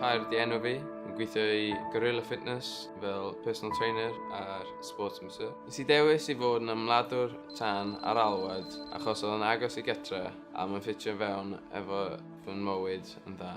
Cair di enw fi, yn gweithio i Gorilla Fitness fel personal trainer a'r sports masseur. Nes i dewis i fod yn ymladwr tan ar alwad achos oedd yn agos i getre a mae'n ffitio fewn efo fy mywyd yn dda.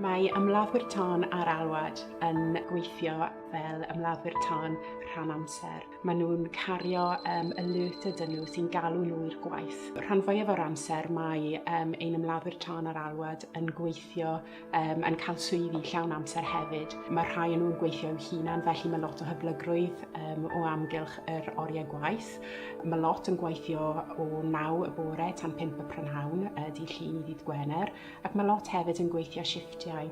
Mae ymladdwyr tân ar alwad yn gweithio fel ymladdwyr tân rhan amser. Mae nhw'n cario um, alert ydyn nhw sy'n galw nhw i'r gwaith. Rhan fwyaf o'r amser mae um, ein ymladdwyr tân ar alwad yn gweithio, um, yn cael swyddi llawn amser hefyd. Mae rhai yn nhw'n gweithio'u hunan, felly mae lot o hyblygrwydd um, o amgylch yr oriau gwaith. Christ. Mae lot yn gweithio o 9 y bore tan 5 y prynhawn y dydd Llun i ddydd Gwener ac mae lot hefyd yn gweithio shifftiau.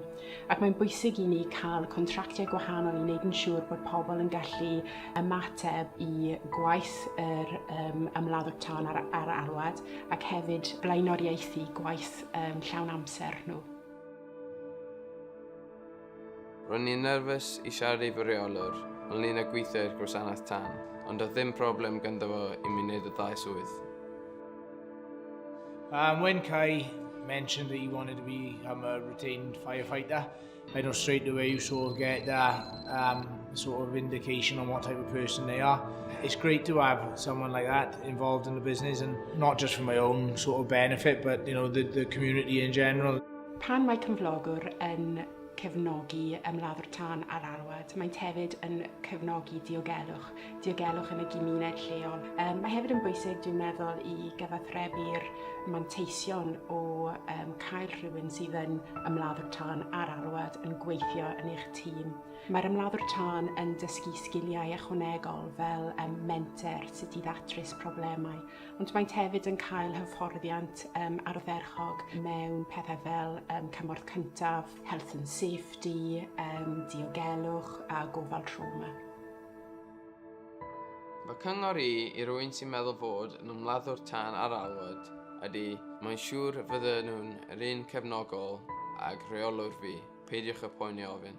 Ac mae'n bwysig i ni cael contractiau gwahanol i wneud yn siŵr bod pobl yn gallu ymateb i gwaith yr um, ymladdwr tân ar, ar alwad ac hefyd blaenoriaethu gwaith um, llawn amser nhw. Ro'n i'n nerfus i siarad i fy rheolwr ynglŷn â gweithio i'r gwasanaeth tân, ond doedd ddim problem ganddo fo i mi wneud y ddau swydd. Um, when Kai mentioned that he wanted to become a retained firefighter, I know straight away you sort of get that um, sort of indication on what type of person they are. It's great to have someone like that involved in the business and not just for my own sort of benefit, but you know the, the community in general. Pan mae cyflogwr yn cefnogi ymladdwr tân ar alwad, maent hefyd yn cefnogi diogelwch, diogelwch yn y gymuned lleol. Um, mae hefyd yn bwysig, dwi'n meddwl, i gyfathrebu'r manteision o um, cael rhywun sydd yn ymladdwr tân ar alwad yn gweithio yn eich tîm. Mae'r ymladdwr tân yn dysgu sgiliau ychwanegol fel um, menter, sut i ddatrys problemau Ond maent hefyd yn cael hyfforddiant um, ardderchog mewn pethau fel um, cymorth cyntaf, health and safety, um, diogelwch a gofal trauma. Mae cyngor i i rwy'n sy'n meddwl fod yn ymladdwr tân ar alwad ydy mae'n siŵr fydden nhw'n yr un cefnogol ag rheolwr fi. Peidiwch â poeni a ofyn.